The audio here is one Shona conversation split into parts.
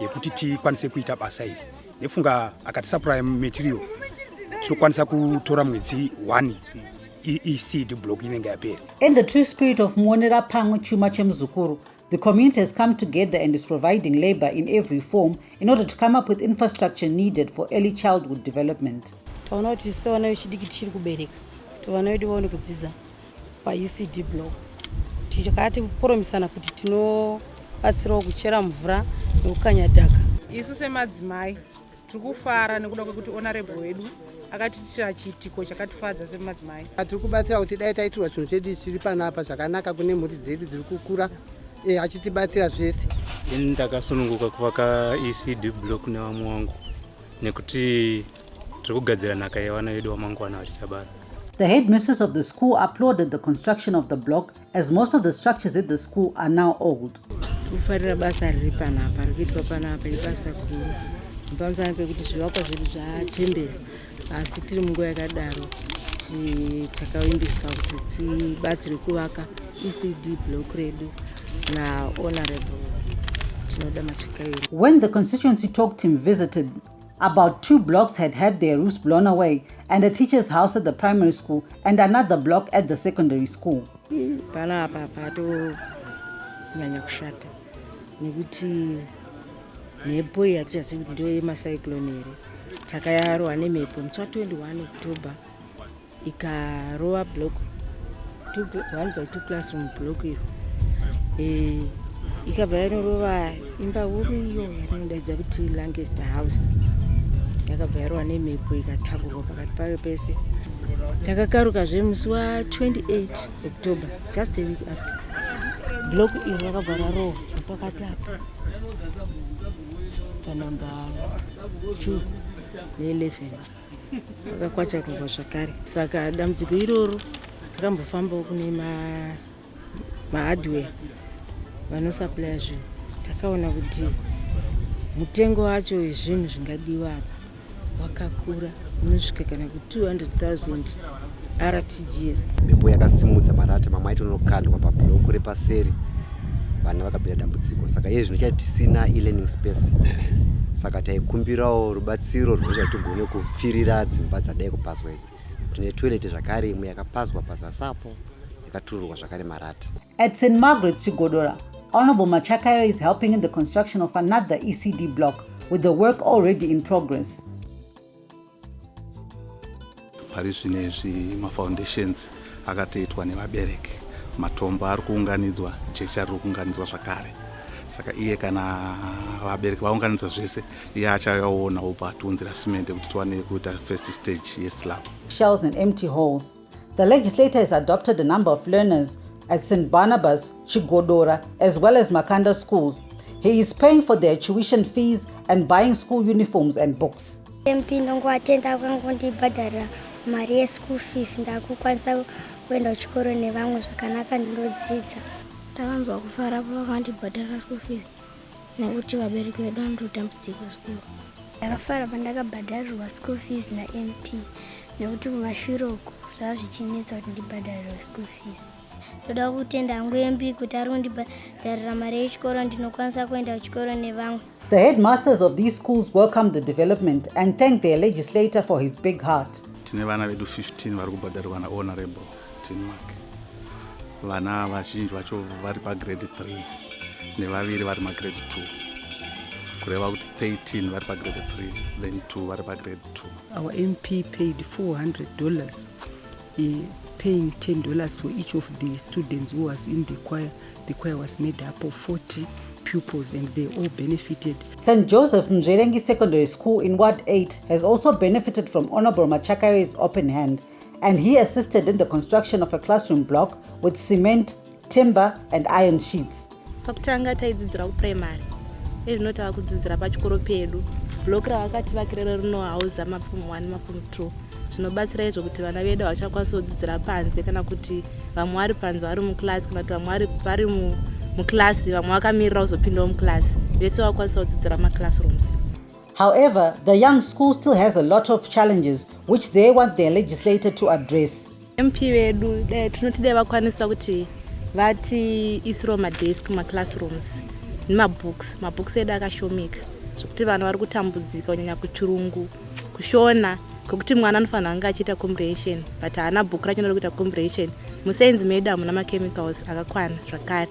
yekuti tikwanise kuita basa iri nefunga akatisapuraya material tinokwanisa kutora mwedzi one iseed block inenge yapera in the true spirit of muonera pamwe chuma chemuzukuru The community has come together and is providing labor in every form in order to come up with infrastructure needed for early childhood development. Taona kuti sewana vechidiki tichiri kubereka kuti vana vedu vaone kudzidza paECD block tikati poromisana kuti tinobatsirawo kuchera mvura nekukanya dhaka. Isu semadzimai tiri kufara nekuda kwekuti honorable wedu akatiitira chiitiko chakatifadza semadzimai. Tiri kubatsira kuti dai taitirwa chinhu chedu chiri panapa zvakanaka kune mhuri dzedu dziri kukura e, achitibatsira zvese. Ini ndakasununguka kuvaka ECD block nevamwe wangu nekuti tiri kugadzira nhaka yevana vedu wamangwana vachichabara The headmistress of the school applauded the construction of the block as most of the structures at the school are now old. Kufarira basa riri panapa rikuitwa panapa ibasa guru pamusana pekuti zvivakwa zvedu zvachembera asi tiri munguva yakadaro takavimbiswa kuti tibatsirwe kuvaka ecd block redu nahonorable tinoda machakairo when the constituency talk team visited About two blocks had had their roofs blown away and a teacher's house at the primary school and another block at the secondary school. Pala apa patonyanya kushata nekuti mhepo iyi hatichazivi kuti ndiyo yemacyclone here takayarwa nemhepo musi wa 21 october ikarova block one by two classroom block iyo eh, ikabva yanorova imba huru iyo yatinodaidza kuti langest house yakabva yarova nemhepo ikatakurwa pakati payo pese takakaruka zve musi wa 28 october just a week after block iyo rakabva rarohwa pakati apa panumber two ne 11 akakwachakugwa zvakare saka dambudziko iroro takambofambawo kune mahardware vanosaplya zvinhu takaona kuti mutengo wacho wezvinhu zvingadiwa apa wakakura unosvika kana ku 200 000 rtgs mhepo yakasimudza marata mamwe aiti unokandwa pabhuloku repaseri vana vakapinda dambudziko saka iye zvino chati tisina elearning space saka taikumbirawo rubatsiro rwunoita tigone kupfirira dzimba dzadai kupazwa idzi tine toilet zvakare imwe yakapazwa pazasapo yakatururwa zvakare marata at st margaret chigodora honorable machakayo is helping in the construction of another ecd block with the work already in progress pari zvino izvi mafoundations akatoitwa nevabereki matombo ari kuunganidzwa jecha riri kuunganidzwa zvakare saka iye kana vabereki vaunganidza zvese iye achayaona obva atiunzira simende kuti tiwane kuita first stage yeslab shells and empty holes The legislator has adopted a number of learners at St. Barnabas, Chigodora, as well as Makanda schools. He is paying for their tuition fees and buying school uniforms and books. MP ndongoatenda kwangondibhadharira mari yeschool fees ndakukwanisa kuenda kuchikoro nevamwe zvakanaka ndinodzidza. Ndakanzwa kufara pavakandibhadharira school fees. nekuti vabereki vedu vanototambudzika zvikuru ndakafara pandakabhadharirwa school fees namp nekuti kumashure uku zvava zvichinetsa kuti ndibhadharirwa school fees ndoda kutenda hangu mb kuti ari kundibhadharira mari yechikoro ndinokwanisa kuenda kuchikoro nevamwe The headmasters of these schools welcome the development and thank their legislator for his big heart. Tine vana vedu 15 vari kubhadharirwa nahonorable Denmark. Vana vazhinji vacho vari pagrade 3 nevaviri vari magrade 2 kureva kuti 13 vari pagrade 3 then 2 vari pagrade 2 our mp paid 400 dollars eh, paying 10 dollars for each of the students who was in the choir the choir was made up of 40 pupils and they all benefited. St. Joseph Mzverengi Secondary School in Ward 8 has also benefited from Honorable Machakare's open hand and he assisted in the construction of a classroom block with cement, timber and iron sheets. Pakutanga taidzidzira kuprimary, ezvino tava kudzidzira pachikoro pedu. Block ravakativakirira rinohauza mapfumo 1 mapfumo 2 zvinobatsira izvo kuti vana vedu havachakwanisa kudzidzira panze kana kuti vamwe vari panze vari muclass kana kuti vamwe vari muclass vamwe vakamirira kuzopindawo muclass vese vakwanisa kudzidzira maclassrooms. However, the young school still has a lot of challenges which they want their legislator to address. MP vedu eh, tinoti dai vakwanisa kuti vati isiro madesk maclassrooms nemabooks mabooks edu akashomeka zvekuti vanhu vari kutambudzika kunyanya kuchirungu kushona kwekuti mwana anofanira anga achiita comprehension but haana book racho ndoda kuita comprehension muscience medu hamuna machemicals akakwana zvakare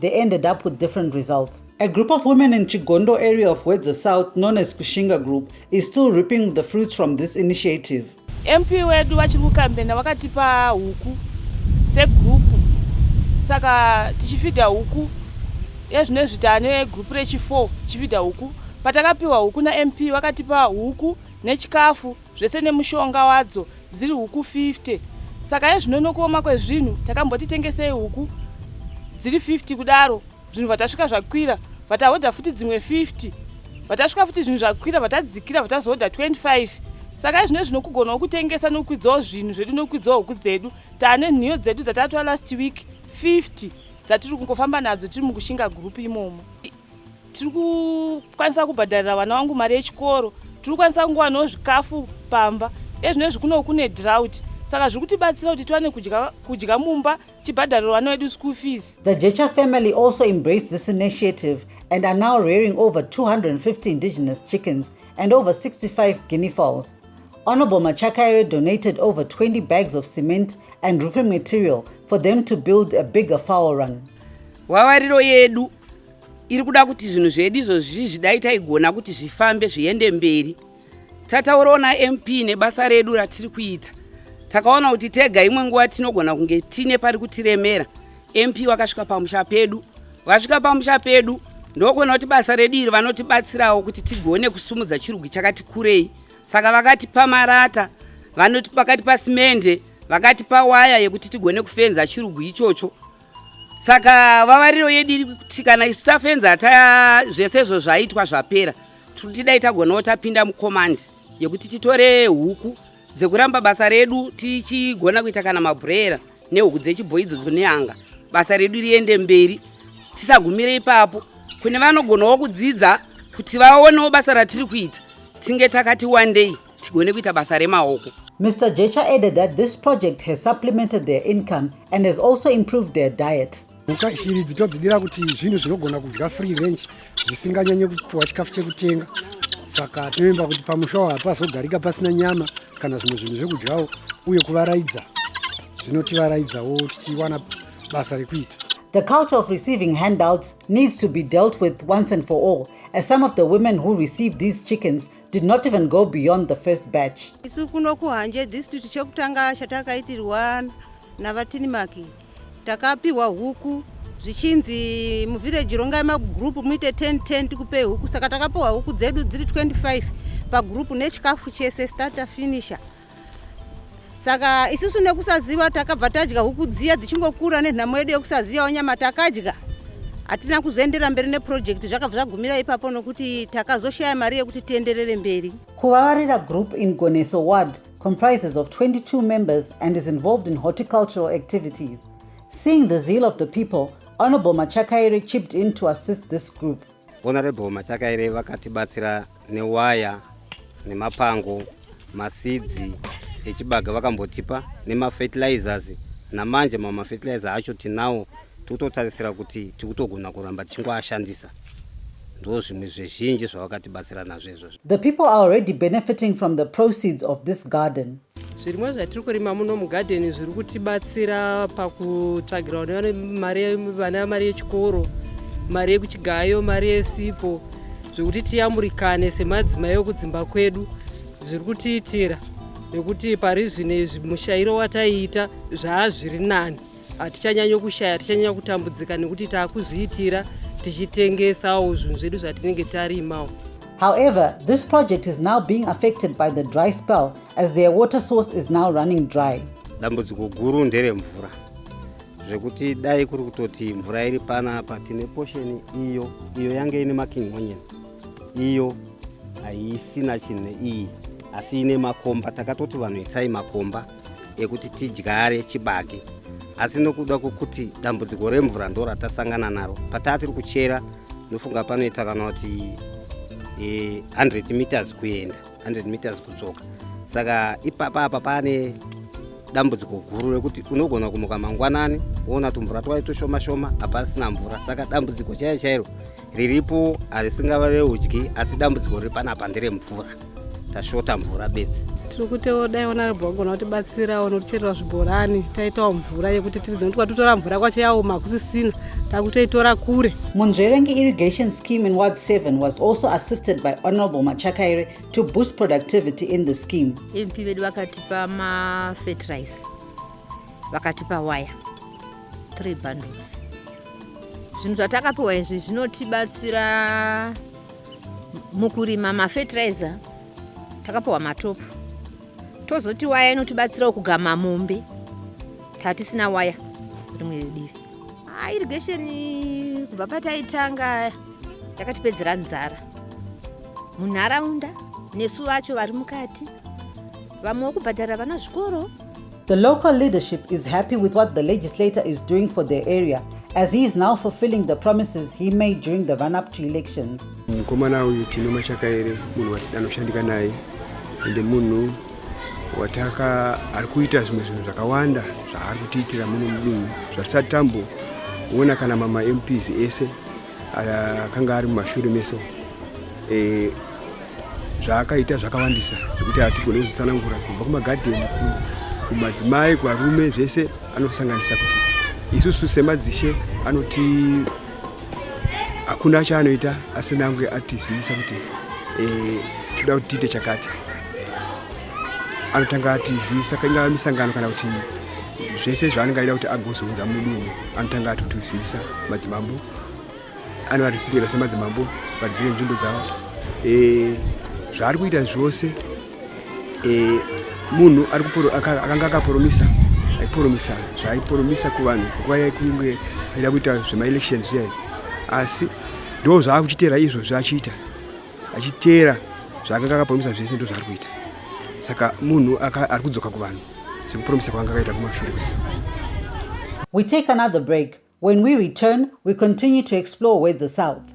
they ended up with different results. A group of women in Chigondo area of Wedza South known as Kushinga Group is still reaping the fruits from this initiative. MP wedu vachiri kukambena vakatipa huku segroup saka tichifidha huku ezvinezvi tane group rechi4 tichifidha huku patakapiwa huku naMP vakatipa huku nechikafu zvese nemushonga wadzo dziri huku 50 saka yezvino nokuoma kwezvinhu takamboti tengesei huku dziri 50 kudaro zvinhu vatasvika zvakwira vatahodha futi dzimwe 50 vatasvika futi zvinhu zvakwira vatadzikira vatazohodha 25 saka izvino zvino kugonawo kutengesa nokukwidzawo zvinhu zvedu nokukwidzawo huku dzedu taane nhiyo dzedu dzataatwa last week 50 dzatiri kungofamba nadzo tiri mukushinga gurupu imomo tiri kukwanisa kubhadharira vana vangu mari yechikoro tiri kukwanisa kungowanawo zvikafu pamba ezvino izvi kuno kune drought saka zviri kutibatsira kuti tiwane kudya mumba chibhadhariro vana vedu school fees the jecha family also embraced this initiative and are now rearing over 250 indigenous chickens and over 65 guinea fowls honorable machakaire donated over 20 bags of cement and roofing material for them to build a bigger fowl run wavariro yedu iri kuda kuti zvinhu zvedu izvozvi zvidai taigona kuti zvifambe zviende mberi tataurawo namp nebasa redu ratiri kuita takaona kuti tega imwe nguva tinogona kunge tine pari kutiremera mp vakasvika pamusha pedu vasvika pamusha pedu ndokuona kuti basa redu iri vanotibatsirawo kuti tigone kusumudza chirugi chakati kurei saka vakatipa marata vanoti pakati pasimende vakatipa waya yekuti tigone kufenza chirugu ichocho saka vavariro yedu iri kuti kana isu tafenza hataya zvese izvo zvaitwa zvapera tiri kuti dai tagonawo tapinda mukomandi yekuti titore huku dzekuramba basa redu tichigona kuita kana mabhurera nehuku dzechibhoyi idzodzo neanga basa redu riende mberi tisagumire ipapo kune vanogonawo kudzidza kuti vaonewo basa ratiri kuita tinge takati wandei tigone kuita basa remaoko Mr. Jecha added that this project has supplemented their income and has also improved their diet. Mhuka shiri dzitodzidira kuti zvinhu zvinogona kudya free range zvisinganyanye kupiwa chikafu chekutenga saka tinovimba kuti pamusha wa hapazogarika pasina nyama kana zvimwe zvinhu zvekudyawo uye kuvaraidza zvinotivaraidzawo tichiwana basa rekuita The culture of receiving handouts needs to be dealt with once and for all, as some of the women who receive these chickens did not even go beyond the first batch isu kuno kuhanje district chokutanga chatakaitirwa navatinimaki takapiwa huku zvichinzi muvhireji rongai magroup muite 10 10 tikupe huku saka takapiwa huku dzedu dziri 25 pagroup nechikafu chese starter finisher saka isusu nekusaziva takabva tadya huku dziya dzichingokura nenhamo yedu yekusazivawo nyama takadya hatina kuzoendera mberi neprojekti zvakabva zvagumira ipapo nokuti takazoshaya mari yekuti tienderere mberi kuvavarira group in goneso ward comprises of 22 members and is involved in horticultural activities seeing the zeal of the people honorable machakaire chipped in to assist this group honorable machakaire vakatibatsira newaya nemapango masidzi echibaga vakambotipa nemafertilizers namanje mamwe mafertilizer acho tinawo tikutotarisira kuti tikutogona kuramba tichingoashandisa ndo zvimwe zvezhinji zvavakatibatsira nazvo izvozvo the people are already benefiting from the proceeds of this garden Zvirimwa zvatiri kurima muno mugadheni zviri kutibatsira pakutsvagira vana mari yechikoro, mari yekuchigayo, mari yesipo zvekuti tiyamurikane semadzimai okudzimba kwedu zviri kutiitira nekuti pari zvino izvi mushairo wataiita zvaazviri nani hatichanyanya kushaya hatichanyanya kutambudzika nekuti taakuzviitira tichitengesawo zvinhu zvedu zvatinenge tarimawo However, this project is now being affected by the dry spell as their water source is now running dry. Dambudziko guru ndere mvura zvekuti dai kuri kutoti mvura iri pana apa tine posheni iyo iyo yange ine making onion iyo haisina chinhu iyi asi ine makomba takatoti vanhu itsai makomba yekuti tidyare chibage asi nokuda kwokuti dambudziko remvura ndo ratasangana naro pataa tiri kuchera ndofunga panoita kana kuti 100 e, meters kuenda 100 meters kudzoka saka ipapa apa pane dambudziko guru rekuti unogona kumuka mangwanani woona tumvura twai tushoma shoma hapasina mvura saka dambudziko chaiyo chairo riripo harisingavave udyi asi dambudziko riri panapa nderemvura tashota mvura bedzi tiri kutewo dai onarabho vagona kutibatsirawo nokucherera zvibhorani taitawo mvura yekuti tiridze nokuti kwatotora mvura kwacho yaoma kusisina takutoitora kure munzverengi irrigation scheme in ward 7 was also assisted by honorable machakaire to boost productivity in the scheme mp vedu vakatipa mafetrize vakatipa waya 3 bundles zvinhu zvatakapiwa izvi zvinotibatsira mukurima mafertilizer takapiwa matopu tozoti waya inotibatsirawo kugama mombe tatisina waya rimwe divi ah, irrigation kubva pataitanga yakatipedzera nzara munharaunda nesu vacho vari mukati vamwe wekubhadhara vana zvikoro The local leadership is happy with what the legislator is doing for their area as he is now fulfilling the promises he made during the run-up to elections. Mukomana uyu tino machakaere munhu watidanoshandika naye ende munhu wataka ari kuita zvimwe zvinhu zvakawanda zvaari kutiitira muno mudunhu zvatisati tamboona kana mama MPs ese akanga ari mumashure meso eh, zvaakaita zvakawandisa zvekuti hatigone kuzvitsanangura kubva kumagadheni kumadzimai kuvarume zvese anosanganisa kuti isusu semadzishe anoti hakuna chaanoita asina ange atizivisa kuti eh, toda kuti tiite chakati anotanga ati zvisa ingava misangano kana kuti zvese zvaanenge aida kuti agozounza mudunhu anotanga ati kuti zivisa madzimambo anovarisipira semadzimambo vadzire nzvimbo dzavo eh, zvaari kuita zvose eh, munhu akanga akaporomisa aiporomisa zvaaiporomisa kuvanhu nguva yaikunge aida kuita zvemaelections zviya asi ndo zvaakuchitera izvo zvachiita achiteera zvaakanga akapromisa zvese ndo zvaari kuita saka munhu ari kudzoka kuvanhu sekupromisa kwaanga akaita kumashure kwese we take another break when we return we continue to explore wedza south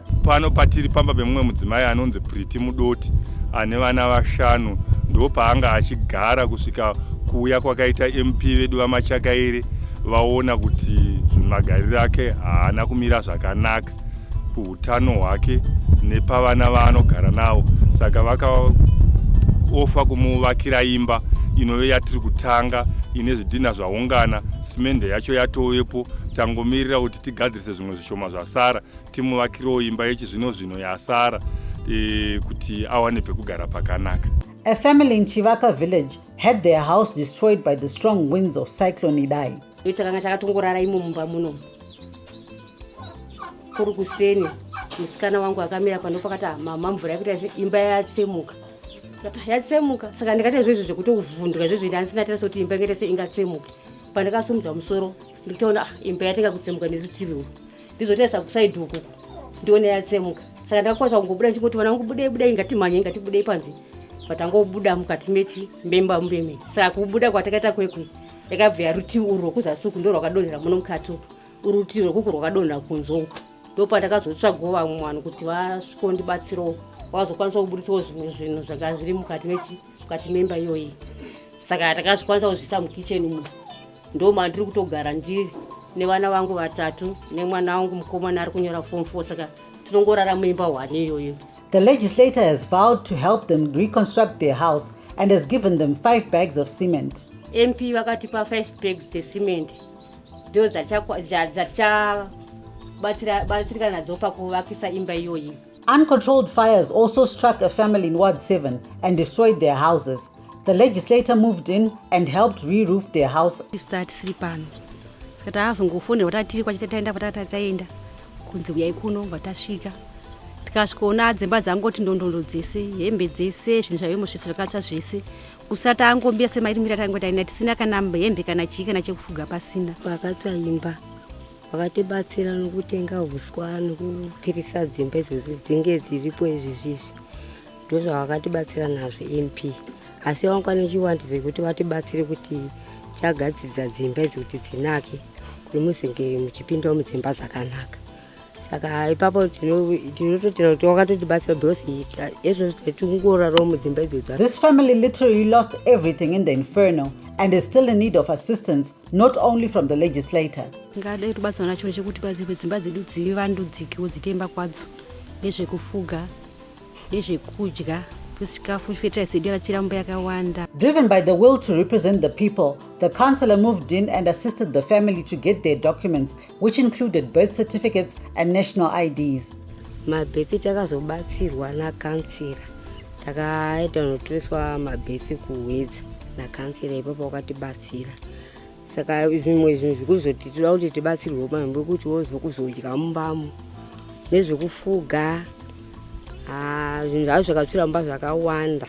Pano patiri pamba pemumwe mudzimai anonzi Priti Mudoti ane vana vashanu ndo paanga achigara kusvika kuuya kwakaita MP vedu vaMachakaire vaona kuti magariro ake haana kumira zvakanaka kuutano hwake nepavana vaanogara navo saka vakaofa kumuvakira imba inove yatiri kutanga ine zvidhinha zvaungana simende yacho yatovepo tangomirira kuti tigadzirise zvimwe zvishoma zvasara timuvakirewo imba yechizvino zvino yasara e, kuti awane pekugara pakanaka A family in Chivaka village had their house destroyed by the strong winds of Cyclone Idai. Itakanga takatongorara imo mumba muno. Kuri kuseni musikana wangu akamira pano pakati ah, mama mvura yakuita izvo imba yatsemuka. Yatsemuka saka ndikati izvo izvo zvekuti uvhunduka izvo zvindi andisina tira sekuti imba ingete se ingatsemuka. Pandakasumudza musoro ndikutaona ah, imba yatenga kutsemuka nerutivi urwu. ndizotarisa kusaidi uku ndione yatsemuka saka ndakakwanisa kungobuda ndichingoti vana vangu budei budei ngatimhanye ngatibudei panze but angobuda mukati mechi memba mbeme saka kubuda kwatakaita kwekwe yakabva yarutivi urwu rwekuzasi uku ndo rwakadonhera muno mukati uku urutivi rwekuku rwakadonhera kunze uku ndopandakazotsvagawo vamwe vanhu kuti vasvikondibatsirawo vazokwanisa kuburitsawo zvimwe zvinhu zvanga zviri mukati mechi mukati memba iyoyi saka takazvikwanisa kuzviisa mukitchen umu ndo mandiri kutogara ndiri nevana vangu vatatu nemwana wangu mukomana ari kunyora form four saka tinongorara muimba hwane iyoyo The legislator has vowed to help them reconstruct their house and has given them five bags of cement. MP vakatipa five bags dzecement ndo dzatichabatsirika nadzo pakuvakisa imba iyoyi. Uncontrolled fires also struck a family in Ward 7 and destroyed their houses. The legislator moved in and helped re-roof their house. Tisiri pano saka taazongofonera watatiri kwachita taenda kwatata taenda kunzi uyai kuno vatasvika tikasvikoona dzimba dzangoti ndondondo dzese hembe dzese zvinhu zvaive mosvese zvakatsva zvese kusati taangombira semaiti mira taingotaina tisina kana hembe kana chii kana chekufuga pasina pakatsva imba vakatibatsira nokutenga huswa nokupfirisa dzimba idzodzi dzinge dziripo izvizvizvi ndozvavakatibatsira nazvo mp asi vangu pane chiwandidzo yekuti vatibatsire kuti chagadzidza dzimba idzi kuti dzinake kuti muzenge muchipindawo mudzimba dzakanaka saka ipapo tinototenda kuti wakatotibatsira because ezvo tingorarawo mudzimba idzodzi this family literally lost everything in the inferno and is still in need of assistance not only from the legislator ngada yekubatsana nacho chekuti padzimwe dzimba dzedu dzivandudzikiwo dzitemba kwadzo nezvekufuga nezvekudya chikafu fertilizer yedu yakachiramba yakawanda driven by the will to represent the people the councillor moved in and assisted the family to get their documents which included birth certificates and national IDs. Mabhethi takazobatsirwa nakansira takaita notoiswa mabhethi kuhwedza nakansira ipapo wakatibatsira saka zvimwe zvinhu zvikuzoti toda kuti tibatsirwe pamwe pekuti wozokuzodya mumbamo nezvekufuga ah, zvinhu zvavo zvakatsvira mumba zvakawanda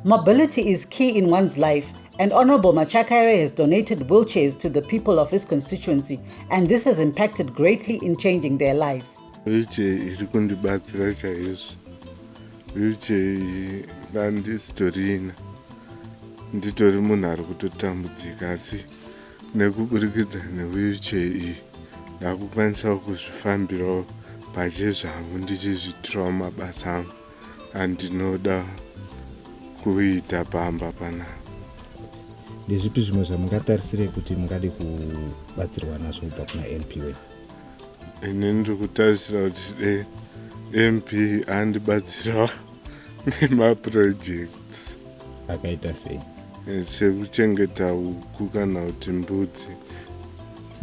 Mobility is key in one's life, and Honorable Machakaire has donated wheelchairs to the people of his constituency, and this has impacted greatly in changing their lives. Wheelchair iri kundibatsira chaizvo. Wheelchair iyi ndandisitorina. Nditori munhu ari kutotambudzika asi nekuburikidza newheelchair iyi ndakukwanisawo kuzvifambirawo pache zvangu ndichizviitirawo mabasa angu. andinoda kuita pamba pana ndezvipi zvimwe zvamungatarisire kuti mungade kubatsirwa nazvo kubva kuna mp wenyu ini ndiri kutarisira kuti de mp andibatsirawo nemaprojects akaita sei sekuchengeta huku kana kuti mbudzi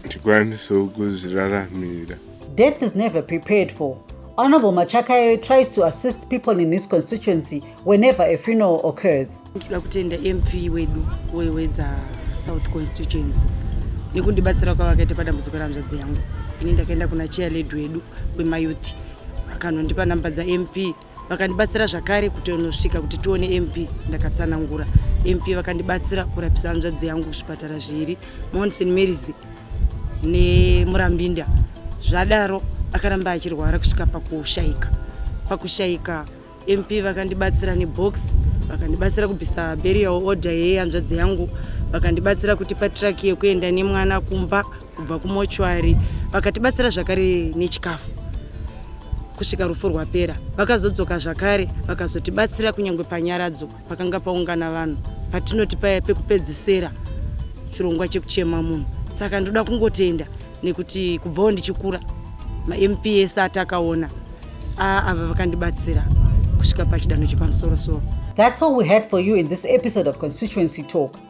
tikwanisewo kuzviraramira death is never prepared for Honorable Machakayo tries to assist people in his constituency whenever a funeral occurs. Ndikuda kutenda MP wedu wewedza South constituency nekundibatsira kwavakaita padambudziko ramzvadzi yangu. Ini ndakaenda kuna chair lady wedu wemayouth akanondipa namba dzaMP vakandibatsira zvakare kuti unosvika kuti tione mp ndakatsanangura mp vakandibatsira kurapisa hanzvadzi yangu kuzvipatara zviiri mount st marys nemurambinda zvadaro akaramba achirwara kusvika pakushayika pakushayika mp vakandibatsira nebox vakandibatsira kubvisa berial order yehanzvadzi yangu vakandibatsira kutipa traki yekuenda nemwana kumba kubva kumochwari vakatibatsira zvakare nechikafu kusvika rufu rwapera vakazodzoka zvakare vakazotibatsira kunyange panyaradzo pakanga paungana vanhu patinoti paya pekupedzisera chirongwa chekuchema munhu saka ndoda kungotenda nekuti kubvawo ndichikura mamps atakaona ava vakandibatsira kusvika pachidanho chepamusorosoro That's all we had for you in this episode of Constituency Talk.